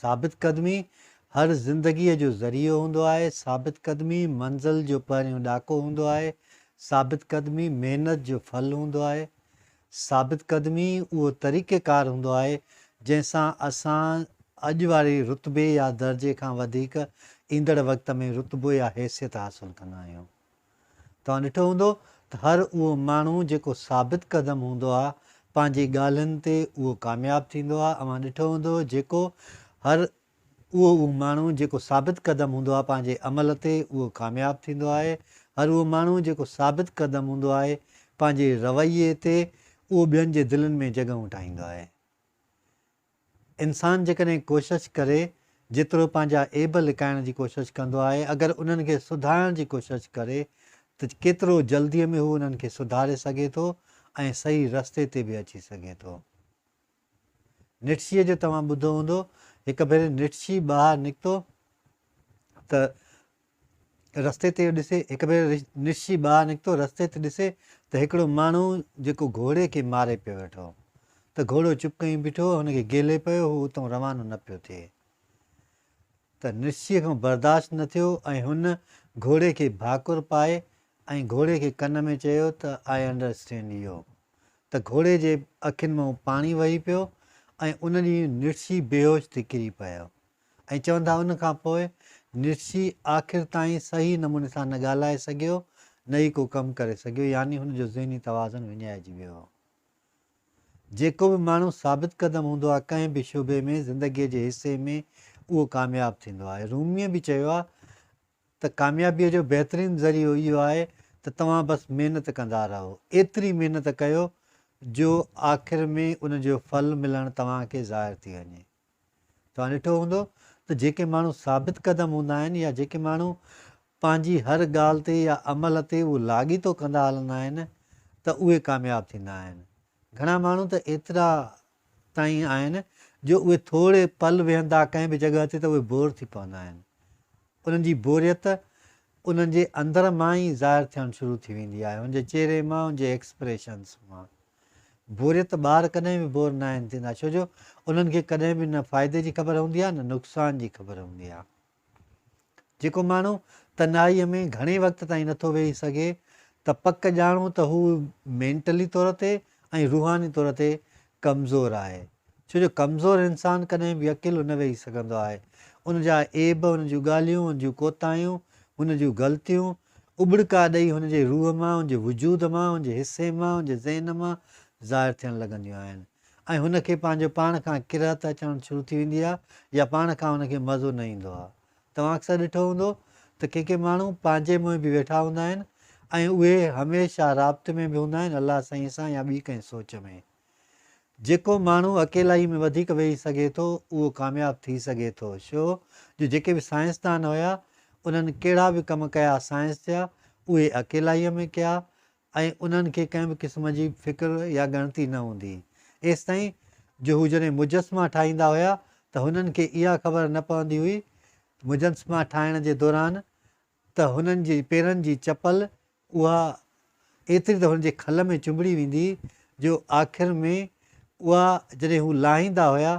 ثابت قدمي هر زندگيء جو ذريعو هوندو آهي، ثابت قدمي منزل جو پهريون ڏاڪو هوندو آهي، ثابت قدمي محنت جو ڦل هوندو آهي، ثابت قدمي اهو طريقيڪار هوندو آهي جنهن سان اسان اڄ واري رتبي يا درجي کان وڌيڪ ايندڙ وقت ۾ رتبو يا حيثيت حاصل ڪندا آهيون. توهان ڏٺو هوندو ته هر اهو ماڻهو جيڪو ثابت قدم هوندو آهي پنهنجي ڳالهين تي اهو ڪامياب ٿيندو آهي اوهان ڏٺو هوندو جيڪو هر اهو اهو ماڻهو جيڪو ثابت قدم هوندو آهي پنهنجي عمل تي اهو ڪامياب ٿيندو آهي هر اهو ماڻهو جيڪو ثابت قدم هوندو آهي پنهنجي رويي تي اهو ٻين جي دلين ۾ جڳهون ٺاهيندو آهي انسان جيڪڏهن ڪوشش ڪري، جيترو پنهنجا عيب لڪائڻ جي ڪوشش ڪندو آهي، اگر انهن کي سڌارڻ جي ڪوشش ڪري ته ڪيترو جلديء ۾ هو انهن کي سڌاري سگهي ٿو ۽ صحيح رستي تي به اچي سگهي ٿو. نٽشي جو توهان ٻڌو هوندو، هڪ ڀيري نٽشي ٻاهر نڪتو ته رستي تي ڏسي هڪ ڀيرو نشي ٻاهر نڪتو رستي تي ڏسي ته هڪڙو ماڻهو جيڪو گهوڙي کي ماري پيو ويٺو هو ته گهوڙو چپ ڪئين بيٺو هو هن کي گيلي پيو هو اتئون روانو نه پيو ٿئي ته نشي کان برداشت نه ٿيو ۽ هن گهوڙي کي ڀاڪر پائي ۽ گهوڙي کي ڪن ۾ چيو ته آء انڊر اسٽينڊ يو ته گهوڙي جي اکين مان پاڻي وهي پيو ۽ ان ڏينهن نشي بيهوش ٿي ڪري پيو ۽ چون ٿا ان کان پوء نٽشي آخر تائين صحيح نموني سان نه ڳالهائي سگهيو نه ئي ڪو ڪم ڪري سگهيو يعني هن جو ذهني توازن وڃائجي ويو. جيڪو به ماڻهو ثابت قدم هوندو آهي ڪنهن به شعبي ۾ زندگي جي حصي ۾ اهو ڪامياب ٿيندو آهي. روميء به چيو آهي ته ڪاميابيء جو بهترين ذريعو اهو آهي ته توهان بس محنت ڪندا رهو. ايتري محنت ڪيو جو آخر ۾ ان جو ڦل ملڻ توهان کي ظاهر ٿي وڃي. توهان ڏٺو هوندو ته جيڪي ماڻهو ثابت قدم هوندا آهن يا جيڪي ماڻهو پنهنجي هر ڳالهه تي يا عمل تي اهو لاڳيتو ڪندا هلندا آهن ته اهي ڪامياب ٿيندا آهن. گهڻا ماڻهو ته ايترا تائين آهن جو اهي ٿوري پل ويهندا ڪنهن به جڳهه تي ته اهي بور ٿي پوندا آهن. انهن جي بوريت انهن جي اندر مان ئي ظاهر ٿيڻ شروع ٿي ويندي آهي، انهن جي چهري مان، انهن جي ايڪسپريشنز مان. بوريت ٻار ڪڏهن به بور ناهن ٿيندا ڇو جو انهن کي ڪڏهن به نه فائدي جي خبر هوندي آهي نه نقصان جي خبر هوندي آهي جيڪو ماڻهو تنهائي ۾ گهڻي وقت تائين نٿو ويهي سگهي ته پڪ ڄاڻو ته هو مينٽلي طور تي ۽ روحاني طور تي ڪمزور آهي ڇو جو ڪمزور انسان ڪڏهن به اڪيلو نه ويهي سگهندو آهي. ان جا عيب، ان جون ڳالهيون، ان جون ڪوتاهيون، ان جون غلطيون اٻڙڪا ڏئي هن جي روح مان، هن جي وجود مان، هن جي حصي مان، هن جي ذهن مان ظاهر ٿيڻ لڳنديون آهن ۽ هن کي پنهنجو پاڻ کان ڪرهت اچڻ شروع ٿي ويندي آهي يا پاڻ کان هن کي مزو نه ايندو آهي. توهان اڪثر ڏٺو هوندو ته ڪي ڪي ماڻهو پنهنجي منهن به ويٺا هوندا آهن ۽ اهي هميشه رابطي ۾ به هوندا آهن الله سائين سان يا ٻي ڪنهن سوچ ۾. جيڪو ماڻهو اڪيلائي ۾ وڌيڪ ويهي سگهي ٿو اهو ڪامياب ٿي سگهي ٿو شو جو جيڪي به سائنسدان هيا انهن ڪهڙا به ڪم ڪيا سائنس جا اهي اڪيلائي ۾ ڪيا ۽ انهن کي ڪنهن به قسم جي فڪر يا ڳڻتي نه هوندي ايستائين جو هو جڏهن مجسما ٺاهيندا هيا ته هنن کي اها خبر نه پوندي هئي مجسما ٺاهڻ جي دوران ته هنن جي پيرن جي چپل اها ايتري ته هن جي کل ۾ چنبڙي ويندي جو آخر ۾ اها جڏهن هو لاهيندا هيا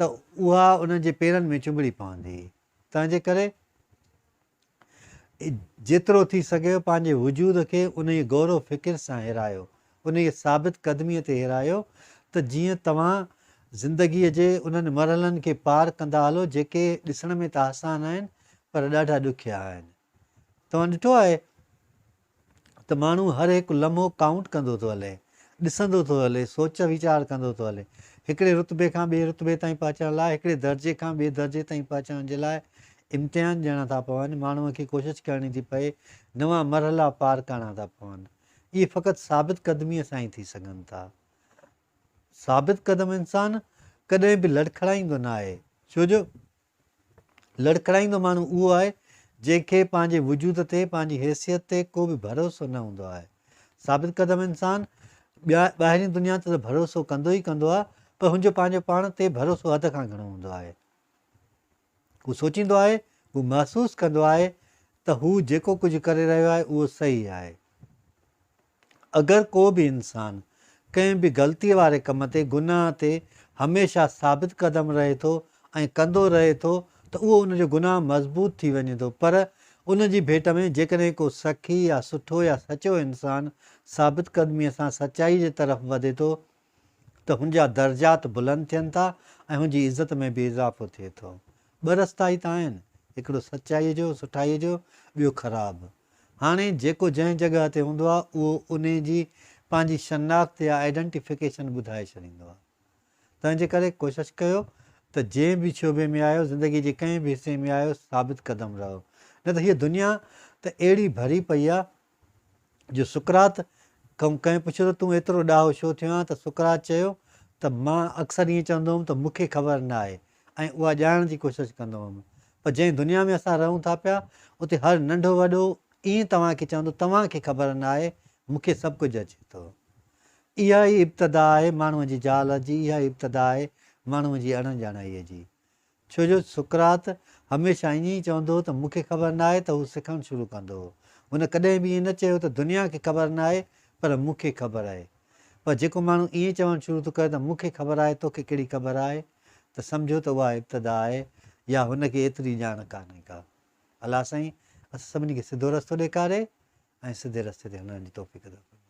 ته اها انهن جي پيرن ۾ چنبڙي پوندي هئي. تنهنجي ڪري جيترو ٿي سگهيو پنهنجي وجود کي انهيء غور و فڪر سان هيرايو، انهيء ثابت قدميء تي هيرايو ته جيئن توهان زندگيء جي انهن مرحلن کي پار ڪندا هلو جيڪي ڏسڻ ۾ ته آسان آهن پر ڏاڍا ڏکيا آهن. توهان ڏٺو آهي ته ماڻهو هر هڪ لمحو ڪائونٽ ڪندو ٿو هلي، ڏسندو ٿو هلي، سوچ ويچار ڪندو ٿو هلي. هڪڙي رتبي کان ٻئي رتبي تائين پهچڻ لاء، هڪڙي درجي کان ٻئي درجي تائين پهچڻ جي لاء امتحان ڏيڻا ٿا پون، ماڻهوء کي ڪوشش ڪرڻي ٿي پئي، نوان مرحلا پار ڪرڻا ٿا پون. اهي فقط ثابت قدميء سان ئي ٿي سگهن ٿا. ثابت قدم انسان ڪڏهن به لڙکڙائيندو ناهي، ڇو جو. لڙکڙائيندو ماڻهو اهو آهي، جنهن کي پنهنجي وجود تي، پنهنجي حيثيت تي ڪو به ڀروسو نه هوندو آهي. ثابت قدم انسان، ٻيا ٻاهرين دنيا تي ته ڀروسو ڪندو ئي ڪندو آهي، پر هن جو پنهنجو پاڻ تي ڀروسو حد کان گهڻو هوندو آهي. هو سوچيندو آهي، هو محسوس ڪندو آهي ته هو جيڪو ڪجهه ڪري رهيو آهي، اهو صحيح آهي. اگر ڪو به انسان ڪنهن به غلطيء واري ڪم تي، گناهه تي، هميشه ثابت قدم رهي ٿو ۽ ڪندو رهي ٿو ته اهو ان جو گناهه مضبوط ٿي وڃي ٿو پر ان جي ڀيٽ ۾ جيڪڏهن ڪو سخي يا سٺو يا سچو انسان ثابت قدميء سان سچائيء جي طرف وڌي ٿو ته هن جا درجات بلند ٿين ٿا ۽ هن جي عزت ۾ به اضافو ٿئي ٿو. ٻه رستا ئي ته آهن، هڪڙو سچائيء جو، سٺائيء جو، ٻيو خراب. هاڻي جيڪو جنهن جڳهه تي هوندو آهي، اهو انهيء جي پنهنجي شناخت يا آئيڊنٽيفڪيشن ٻڌائي ڇڏيندو آهي. تنهن جي ڪري ڪوشش ڪيو ته جنهن به شعبي ۾ آهيو، زندگيء جي ڪنهن به حصي ۾ آهيو، ثابت قدم رهو. نه ته هيء دنيا ته اهڙي ڀري پئي آهي، جو سقراط ڪنهن پڇيو ته تون ايترو ڏاهو ڇو ٿيو آهين ته سقراط چيو ته مان اڪثر ائين چوندو هوم ته مون کي خبر نه آهي ۽ اها ڄاڻڻ جي ڪوشش ڪندو هوم پر جنهن دنيا ۾ اسان رهون ٿا پيا اتي هر ننڍو وڏو ائين توهان کي چوندو توهان کي خبر نه آهي مون کي سڀ ڪجهه اچي ٿو اها ئي ابتدا آهي ماڻهوء جي جهالت جي اها ئي ابتدا آهي ماڻهوء جي اڻڄاڻائيء جي ڇو جو سقراط هميشه ائين ئي چوندو هو ته مون کي خبر ناهي ته هو سکڻ شروع ڪندو هو. هن ڪڏهن به ائين نه چيو ته دنيا کي خبر ناهي پر مون کي خبر آهي. پر جيڪو ماڻهو ائين چوڻ شروع ٿو ڪري ته مون کي خبر آهي تو کي ڪهڙي خبر آهي ته سمجهو ته اها ابتدا آهي يا هن کي ايتري ڄاڻ ڪانهي ڪا. الله سائين اسان سڀني کي سڌو رستو ڏيکاري ۽ سڌي رستي تي هلڻ جي توفيق عطا فرمائي.